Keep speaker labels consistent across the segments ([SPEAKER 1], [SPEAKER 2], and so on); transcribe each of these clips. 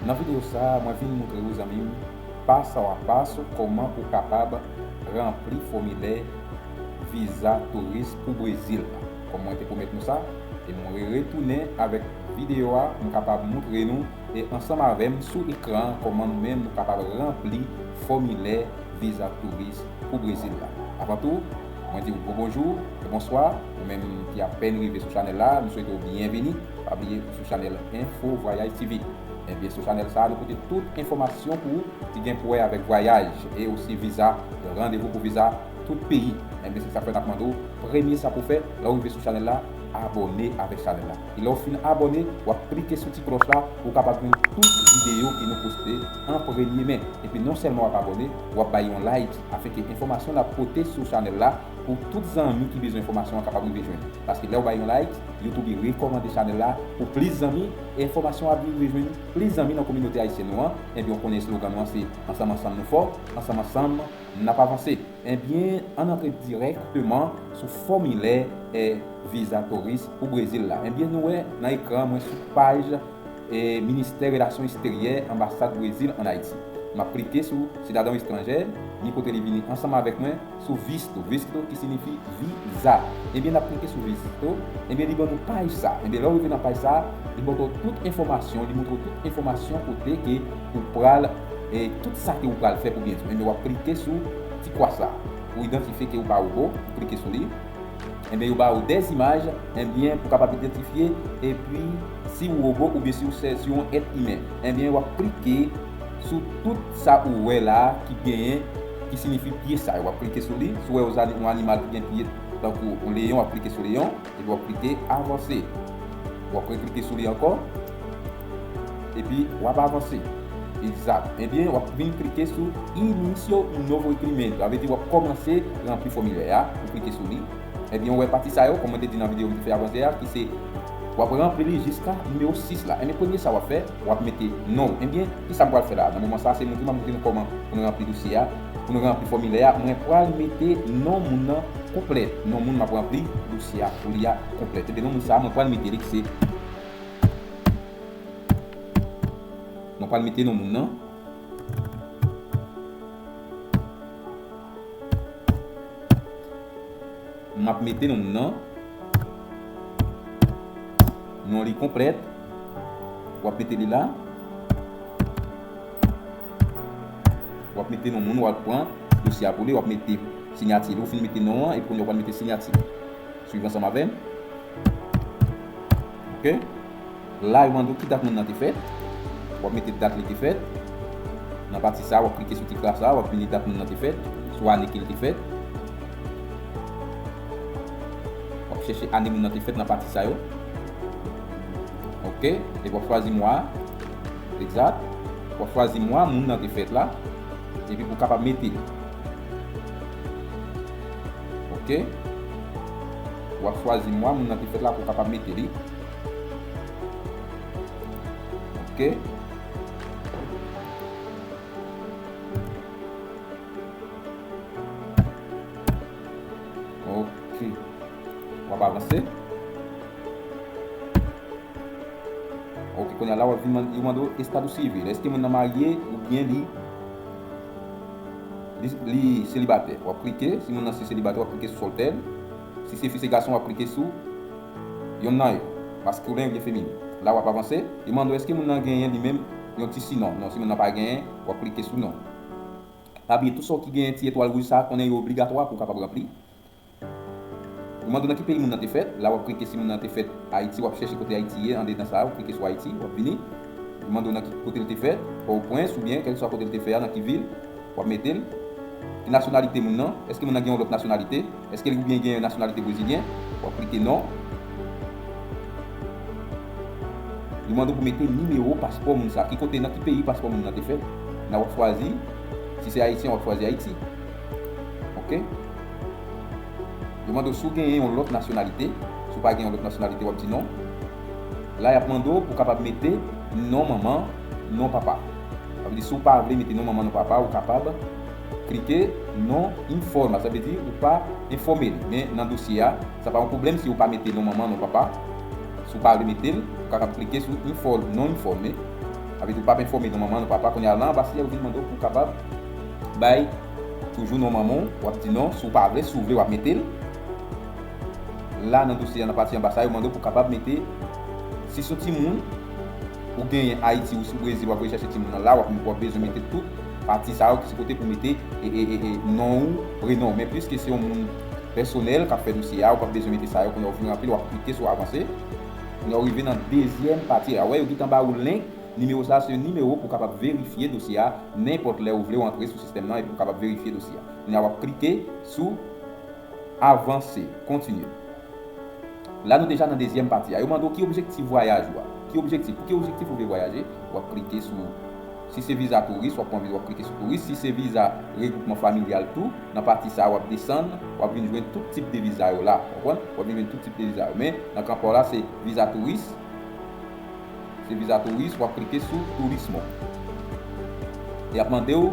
[SPEAKER 1] Nan video sa mwen vin moutre ou zanmi m pa sa wa pa sou koman ou kapab ranpli fomilè viza touris pou Brezil la kom mwen te pwomet nou sa e mwen retounen avek video a m kapab moutre nou e ansanm avè m sou ekran an kòman nou menm nou kapab ranpli fòmilè viza touris pou Brezil la. Avan tou, mwen di w gwo bonjou e bonswa, ou menm ki apèn rive sou chanèl la, m swete w byenvini, pa bliye ou sou chanèl Info Voyage TV. Ebyen sou chanèl sa a nou pote tout enfòmasyon pou ou ki gen pou wè avèk vwayaj e osi viza, randevou pou viza tout peyi. Ebyen se sa k fè n ap mande w premye sa pou w fè lè w rive sou chanèl la, abòne avèk chanèl la. E lèw fin abòne wap klike sou ti klòch la pou w kapab jwenn tout videyo ke nou poste an premye men. Epi non sèlman wap abòne, wap bay yon like afin ke enfòmasyon nap pote sou chanèl la pou tout zanmi ki bezwen enfòmasyon an kapab rive jwenn li. Paske lèw bay yon like, YouTube rekòmande chanèl la pou plis zanmi e enfòmasyon ap rive jwenn plis zanmi nan kominote ayisyèn nou an. Ebyen ou konnen eslogan nou an se, Ansanm ansanm nou fò, ansanm ansanm nap avanse. Ebyen ann antre dirèkteman sou fòmilè viza touris pou Brezil la. Ebyen nou wè nan ekran an mwen sou paj Ministè Relasyon Eksteryè Anbasad Brezil ann Ayiti. M ap klike sou Sidadon Estranjè, ni kote li vini ansanm avèk mwen, sou Visto, Visto ki sinifi viza. Ebyen n ap klike sou Visto, ebyen li ban nou paj sa. Ebyen lè w rive nan paj sa, li montre w tout enfòmasyon, li montre w tout enfòmasyon kote ke. Ou pral e tout sa ke ou pral fè pou byen di w enben wap klike sou ti kwa sa pou idantifye ke ou pa robo ou klike sou li enben yo ba ou 2 imaj enben pou kapab idantifye epi si ou robo oubyen si ou se si ou yon èt imen enben wap klike sou tout sa ou wè la ki genyen ki sinifi pye sa yo wap klike sou li si ou wè yon animal ki gen pye tankou yon leyon wap klike sou leyon. Epi wap klike avanse. Wap re klike sou li ankò. Epi wap avanse. Egzat. Ebyen wap vin klike sou Inicio un novo requerimento. Sa vle di wap kòmanse ranpli fòmilè a. Ou klike sou li. Ebyen ou wè pati sa yo kòm mwen te di nan videyo m te fè avan yè a ki se wap ranpli li jiska nimewo 6 la. Ebyen premye sa wap fè wap mete non ou. Ebyen kisa m pral fè la a? Nan moman sa a se montre map montre nou kòman pou nou ranpli dosye a. Pou nou ranpli fòmilè a, mwen pral mete non moun nan konplè. Non moun m ap ranpli dosye a pou li a konplè. Ebyen non moun sa a mwen pral mete li ki se Mwen pral mete non moun nan M ap mete non moun nan Non li konplè W ap mete li la. Wap mete non moun wal pran dosye a pou li wap mete sinyati li ou fin mete non an epi kounye wap mete sinyati swiv ansanm avèm ok la yo mande w ki dat moun nan te fèt wap mete dat li te fèt nan pati sa wap klike sou ti kras la wap vini dat moun nan te fèt sou ane ke li te fèt wap chèche ane moun nan te fèt nan pati sa yo ok epi wap chwazi mwa a. Egzat, w ap chwazi mwa moun nan te fèt la, epi pou w kapab mete. Ok. W ap chwazi mwa moun nan te fèt la pou w kapab mete li. Ok. Ok. W ap avanse. Ok konya la wap vin mande yo mande w estado civil eske moun nan marye oubyen li li selibatè wap klike si moun nan se selibatè wap klike sou soltèr si se fi se gason wap klike sou yonn nan yo maskulen oubyen feminin la wap avanse yo mande w eske moun nan genyen li menm yon ti sinon non si moun nan pa genyen wap klike sou non pa bliye tout sa w ki genyen ti etwal rouj sa konnen yo obligatwa pou w kapab ranpli. Ou mande nan ki peyi moun nan te fèt, la wap klike si moun nan te fèt Ayiti wap chèche kote Ayiti ye andedan sa ou klike sou Ayiti wap vini li mande w nan ki kote li te fèt Pòwopwens oubyen kèlkeswa kote li te fè a nan ki vil wap mete l ki nasyonalite moun nan èske moun nan gen yon lòt nasyonalite èske li oubyen gen nasyonalite brezilyen wap klike non li mande w pou mete nimewo paspò moun sa ki kote nan ki peyi paspò moun nan te fèt nan wap chwazi si se Ayisyen wap chwazi Ayiti ok. Yo mande w si w genyen yon lòt nasyonalite. Si w pa gen yon lòt nasyonalite, w ap di non. La y ap mande w pou w kapab mete non manman, non papa. Sa vle di si w pa vle mete non manman, non papa, ou kapab klike non informa. Sa vle di ou pa enfòme li. Men nan dosye a, sa pa yon pwoblèm si ou pa mete non manman, non papa. Si w pa vle mete l, ou kapab klike sou inform, non informe. Sa vle di ou pap enfòme non manman, non papa. Kounye a, la anba si a yo vin mande w pou w kapab bay. Toujou non manman w wap di non si w pa vle si w vle wap mete l la nan dosye a nan pati anba sa yo mande w pou kapab mete si son timoun ou genyen ayiti ou si w brezil wap vle chache timoun nan la wap bezwen mete tout pati sa yo ki se kote pou mete non w prenon w men pliske se yon moun pèsonèl kap fè dosye a ou pap bezwen mete sa yo kounye a ou fin ranpli l wap klike sou avanse kounye a ou rive nan dezyèm pati a wè yo gin tan ba ou link. Nimewo sa a se yon nimewo pou w kapab verifye dosye a nenpòt lè ou vle w antre sou sistèm nan epi pou kapab verifye dosye a. Kounye a w ap klike sou Avanse, Continue. La nou deja nan dezyèm pati a. Yo mande w ki objektif vwayaj ou a. Ki objektif? Pou ki objektif ou vle vwayaje? W ap klike sou Si se viza touris, w ap pran viza w ap klike sou touris. Si se viza regwoupman familyal tou, nan pati sa a w ap desann, w ap vin jwenn tout tip de viza yo la. Konprann? W ap vin jwenn tout tip de viza yo. Men, nan kan pa w la se viza touris. Se viza touris wap klike sou turismo. Yap mande w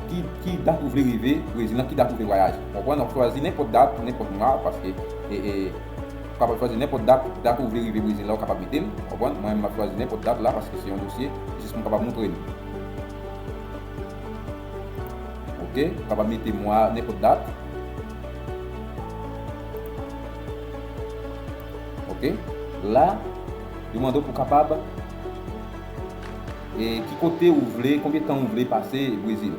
[SPEAKER 1] ki dat ou vle rive brezil nan ki dat ou vle vwayaje. Ou konprann wap chwazi nenpòt dat nenpòt mwa paske ou kapab chwazi nenpòt dat, dat ou vle rive brezil la ou kapab mete l ou konprann mwen map chwazi nenpòt dat la paske se yon dosye jis pou m kapab moutre nou. Ok ou kapab mete mwa nenpòt dat. Ok la yo mande w pou kapab e ki kote ou vle konbyen tan ou vle pase brezil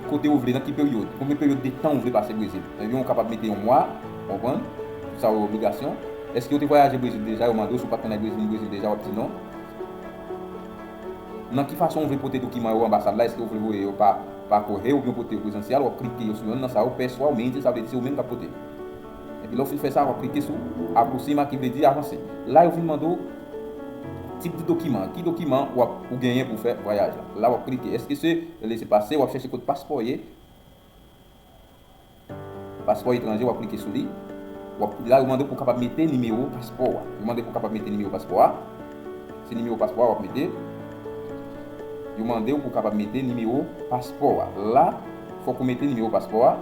[SPEAKER 1] ki kote ou vle nan ki peryode konbyen peryode de tan ou vle pase brezil ebyen ou kapab mete yon mwa konprann tout sa yo obligasyon eske ou te vwayaje brezil deja yo mande w si ou pat konn al brezil ni brezil deja wap di non nan ki fason ou vle pote dokiman yo anbasad la eske ou vle voye yo pa pa kohe oubyen pote yo prezansyal wap klike yo sou yonn nan sa yo pè swa ou menm se sa vle di se ou menm kap pote. Epi lè ou fin fè sa, w ap klike sou Aproxima ki vle di Avanse. La yo vin mande w tip di dokiman an, ki dokiman w ap ou genyen pou fè vwayaj la. La w ap klike Eske se Laissez passer, w ap chèche kot paspò ye, paspò etranje w ap klike sou li. W ap, la yo mande w pou w kapab mete nimewo paspò w a. Yo mande w pou w kapab mete nimewo paspò w a. Se nimewo paspò w a w ap mete. Yo mande w pou w kapab mete nimewo paspò w a. La fòk ou mete nimewo paspò w a.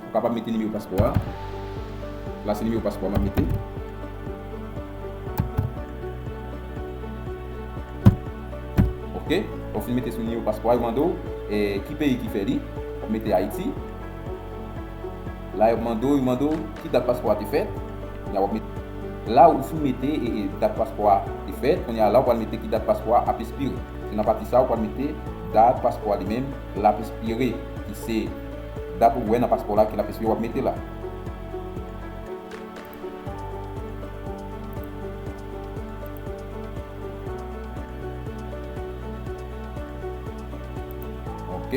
[SPEAKER 1] Ou kapab mete nimewo paspò a. La se nimewo paspò a map mete. Ok. Ou fin mete sou nimewo paspò a yo mande w ki peyi ki fè li. Ou mete Ayiti. La yo mande w yo mande w ki dat paspò a te fèt. Kounya wap mete. La ou fin mete dat paspò a te fèt. Kounya la ou pral mete ki dat paspò a ap espire. Se nan pati sa ou pral mete dat paspò a li menm lap espire ki se. Dat ou wè nan paspò la ki lap espire wap mete la. Ok.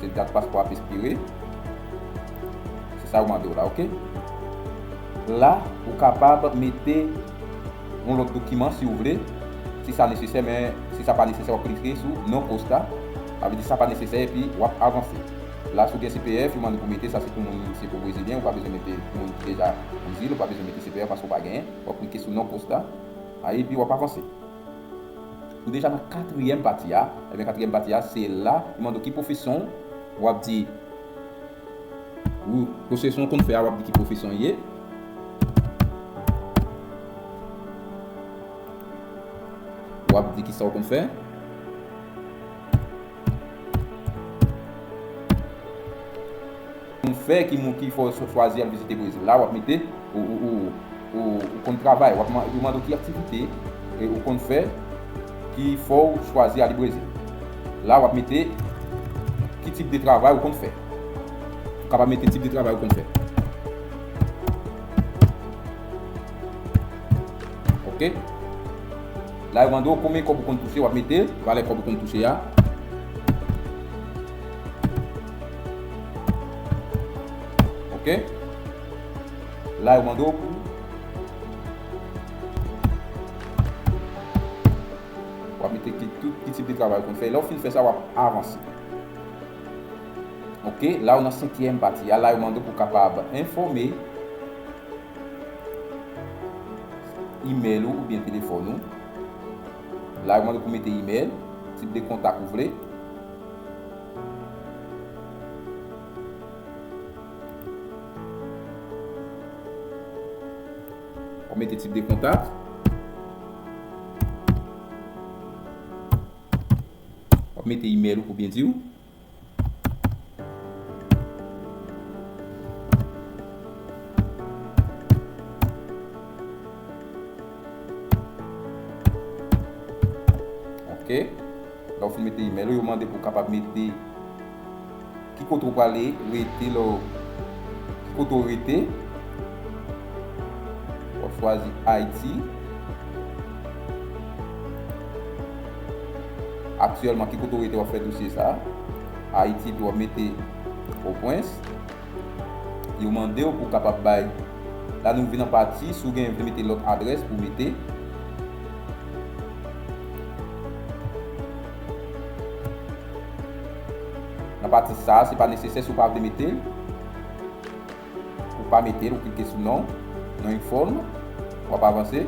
[SPEAKER 1] Se dat paspò ap espire. Se sa yo mande w la ok. La ou kapab mete. yon lòt dokiman si ou vle, si sa nesesè men si sa pa nesesè wap klike sou non kosta sa vle di sa pa nesesè epi wap avanse la si ou gen cpf yo mande pou mete sa se pou moun se pou brezilyen ou pa bezwen mete pou moun ki deja brezil ou pa bezwen mete cpf paske ou pa genyen wap klike sou non kosta a epi wap avanse ou deja nan katriyèm pati a ebyen katriyèm pati a se la yo mande w ki pwofesyon w wap di. Wou pwofesyon w konn fè a wap di ki pwofesyon w ye. Wap di kisa w konn fè. Konn fè ki moun ki fè w chwazi ap vizite Brezil la wap mete ou ou ou. Ou konn travay wap epi ou mande w ki aktivite ou konn fè ki fè w chwazi ale Brezil. La wap mete ki tip de travay ou konn fè. Ou kapab mete tip de travay ou konn fè. Ok. La yo mande w konbyen kòb ou konn touche wap mete valè kòb ou konn touche a. Ok. La yo mande w pou w ap mete ki tout ki tip de travay ou konn fè. Lè ou fin fè sa, w ap avanse. Ok, la ou nan senkyèm pati a. La yo mande w pou w kapab enfòme imèl ou oubyen telefòn ou. La yo mande w pou w mete imèl, tip de kontak ou vle. Wap mete tip de kontak. Wap mete email ou pou byen diw. Ok. Lè ou fin mete email ou, yo mande pou kapab mete ki kote ou prale rete lè ou ki kote ou rete. Wap chwazi Ayiti. Aktyèlman ki kote ou rete wap fè dosye sa. Ayiti epi wap mete Pòpwens. Yo mande ou pou kapab bay la nou vin nan pati si ou gen vle mete lòt adrès pou mete. Nan pati sa a, se pa nesesè si w pa vle mete l, ou pa mete l, ou klike sou non, non yon fòm, w ap avanse.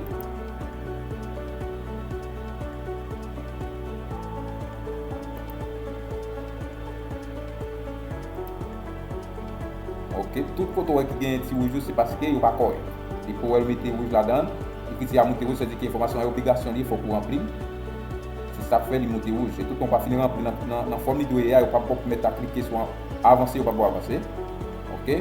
[SPEAKER 1] Ok, tout foto ou wè ki genyen ti wouj yo se paske yo pa kòrèk. Li fo wèl mete wouj ladan l. Ekriti a moute wouj sa vle di ke enfòmasyon an obligasyon li fòk ou ranpli l. Se sa k fè li moute wouj. E toutan ou pa fin ranpli l nan fòm li dwe ye a, yo pap ba w pou mèt la klike sou avanse, yo pap ba w avanse. Ok.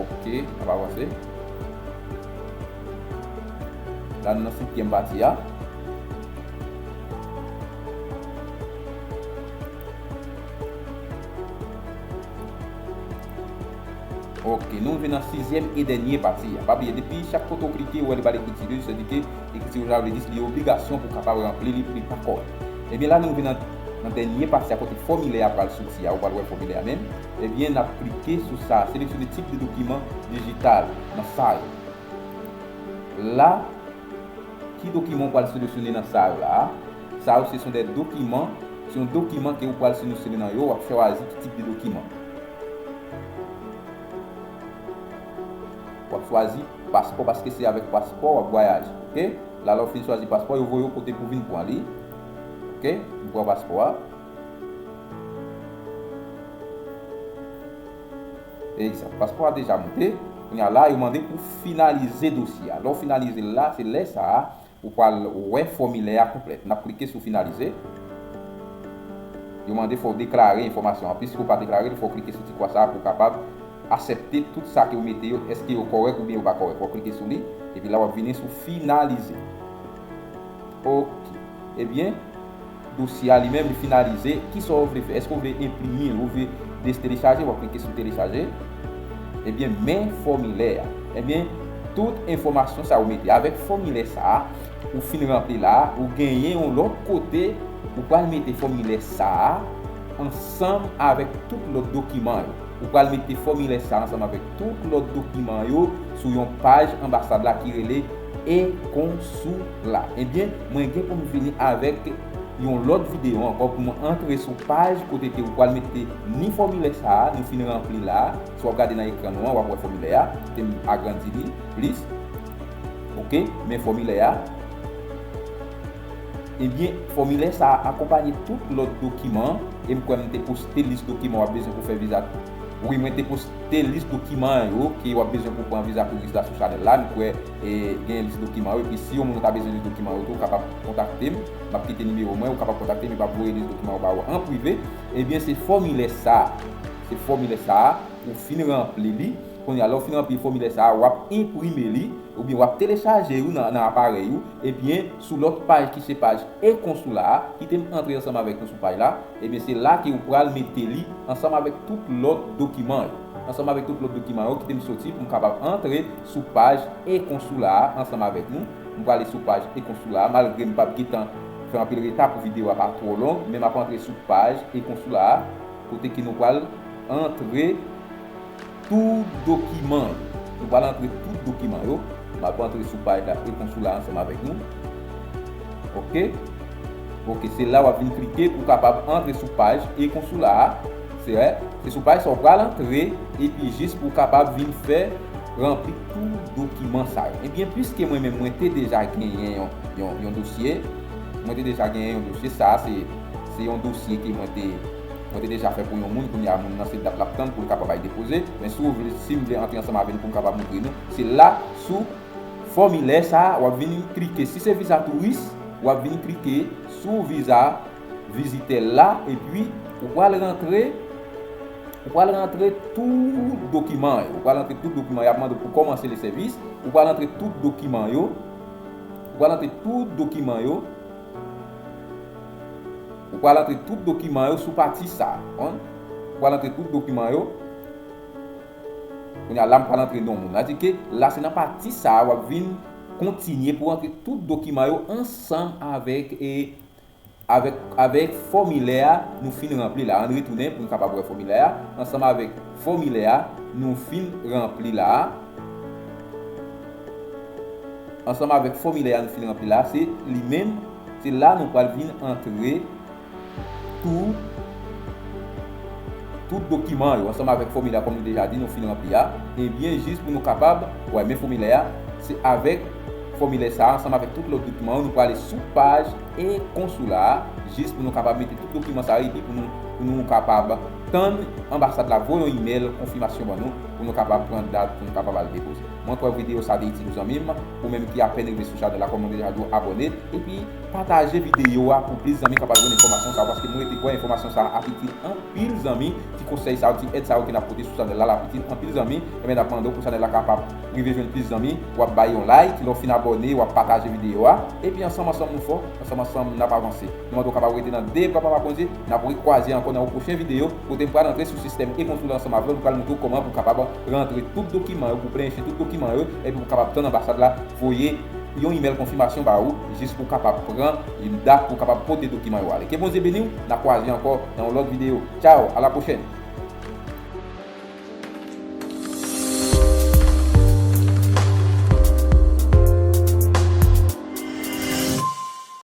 [SPEAKER 1] Ok, ap avanse. La nou nan setyèm pati a. Ok, nou vin nan sizyèm e dènye pati a. Pa bliye, depi chak kote ou klike, ou wè li ba lekriti de, se di ke lekriti rouj la vle di li obligasyon pou w kapab ranpli li, li pa kòrèk. Ebyen la nou vin nan. Nan dènye pati a kote fòmilè a pral soti a ou pral wè fòmilè a menm, ebyen nap klike sou sa a seleksyone tip de dokiman dijital nan sa yo la ki dokiman ou pral seleksyone nan sa yo la a, sa yo se son dè dokiman se yon dokiman ke ou pral seleksyone nan yo wap chwazi ki tip de dokiman wap chwazi paspò paske se avèk paspò wap vwayaje ok la lè ou fin chwazi paspò yo voye ou kote pou vin pran li. Ok m pran paspò a. Egzat. Paspò a deja moute. Kounye a la yo mande pou finalize dosye a. Lè w finalize l la, se lè sa a ou pral wè fòmilè a konplèt. N ap klike sou finalize. Yo mande fò w deklare enfòmasyon an. Piske w pa deklare l, fò w klike sou ti kwa sa a pou w kapab asèpte tout sa ke w mete yo, èske yo kòrèk oubyen yo pa kòrèk. Wap klike sou li. Epi la wap vini sou finalize. Ok. Ebyen, dosye a li menm li finalize. Kisa w vle fè? Eske w vle enprime l? Ou vle destelechaje? W ap klike sou telechaje. Ebyen, men fòmilè a. Ebyen, tout enfòmasyon sa a ou mete avèk fòmilè sa a ou fin ranpli la a, ou genyen yon lòt kote ou pral mete fòmilè sa a ansanm avèk tout lòt dokiman yo. Ou pral mete fòmilè sa a ansanm avèk tout lòt dokiman yo sou yon paj anbasad la ki rele. E kon sou la. Ebyen mwen gen pou m vini avèk yon lòt videyo ankò pou mwen antre sou paj kote ke ou pwal mete ni fòmilè sa a nou fin ranpli la a. Si w ap gade nan ekran nou an w ap wè fòmilè a. Kote m agrandi li plis. Ok. Men fòmilè a. Ebyen fòmilè sa a akonpanye tout lòt dokiman e m kwè m te poste lis dokiman w ap bezwen pou fè viza. Wi mwen te poste. Te lis dokiman yo ke wap bezwen pou pran viza touris la sou chanèl la, nou kwè gen lis dokiman yo epi si yon moun ou ta bezwen lis dokiman yo tou kapab kontakte m, map kite nimewo mwen ou kapab kontakte m epi map voye lis dokiman yo ba ou an prive. Ebyen se fòmilè sa, se fòmilè sa a ou fin ranpli li, kounye a lè ou fin ranpli fòmilè sa a wap enprime li oubyen wap telechaje yo nan aparèy ou ebyen sou lòt paj ki se paj e-konsula a, kite m antre ansanm avèk nou sou paj la. Ebyen se la ke ou pral mete li ansanm avèk tout lòt dokiman yo. Ansanm avèk tout lòt dokiman yo, kite m soti pou m kapab antre sou paj e-konsoula a ansanm avèk nou. M prale sou paj e-konsoula a, malgre m pap gentan fè anpil reta pou videyo a pa twò long, men m ap antre sou paj e-konsoula a kote ke nou pral antre. Tou dokiman. Nou pral antre tout dokiman yo. Map antre sou paj la e-konsoula ansanm avèk nou. Ok. Ok, se la wap vin klike pou kapab antre sou paj e-konsoula a. Se a, se sou paj sa ou pral antre epi jis pou kapab vin fè ranpli tou dokiman sa yo. Ebyen pwiske mwen menm mwen te deja genyen yon yon yon dosye, mwen te deja genyen yon dosye, sa se se yon dosye ke mwen te. Mwen te deja fè pou yon moun kounya moun nan se dat lap tann poul kapab al depoze men si ou vle sim vle antre ansanm avè nou poum kapab moutre nou se la sou fòmilè sa wap vini klike si se viza touris wap vini klike sou viza vizitè la epi ou pral rantre ou pral rantre tout dokiman yo ou pral rantre tout dokiman yap mande pou kòmanse le sèvis ou pral rantre tout dokiman yo ou pral rantre tout dokiman yo. Ou pral antre tout dokiman yo sou pati sa a. Ou pral antre tout dokiman yo. Kounye a la m pral antre non moun. Adi ke la se nan pati sa a w ap vin kontinye pou antre tout dokiman yo ansanm avèk e avèk avèk fòmilè a nou fin ranpli la. Ann retounen pou n kapab wè fòmilè a ansanm avèk. Fòmilè a nou fin ranpli la a, ansanm avèk fòmilè a nou fin ranpli la a, se li menm, se la nou pral vin antre tou tout dokiman yo ansanm avèk fòmilè a kòm nou deja di nou fin ranpli a, ebyen jis pou nou kapab wè men fòmilè a, se avèk fòmilè sa a ansanm avèk tout lòt dokiman yo nou prale sou paj 1 konsou la a jis pou nou kapab mete tout dokiman sa yo epi pou nou kapab. Tann anbasad la voye yon email konfimasyon ban nou pou nou kapab pran dat pou nou kapab al depoze. Mwen kwè video sa te itil ou zanmim, ou menm ki apèn rive sou chanèl la kòman ou deja di ou abòne, epi pataje video a pou plis zanmi kapab jwenn enfòmasyon sa yo paske mwen rete kwè enfòmasyon sa ap itil anpil zanmi, ti konsèy sa yo, ti èd sa yo ke nap pote sou chanèl la lap itil anpil zanmi, enben nap mande w pou chanèl la kapab rive jwenn plis zanmi, wap bay yon like, lè w fin abòne wap pataje video a, epi ansanm ansanm nou fò, ansanm ansanm nap avanse. Nou mande w kapab rete nan de bra Papa Bondye. N ap rekwaze ankò nan yon pwochen videyo kote m pral antre sou sistèm e-konsila ansanm avè w. M pral montre w kòman pou w kapab rantre tout dokiman yo, pou w plenyen tout dokiman yo, epi pou w kapab tann anbasad la voye yon imèl konfimasyon ba ou jis pou w kapab pran yon dat pou w kapab pote dokiman yo ale. Ke Bondye beni w! N ap kwaze ankò nan yon lòt videyo. Tchaw! Alapwochèn!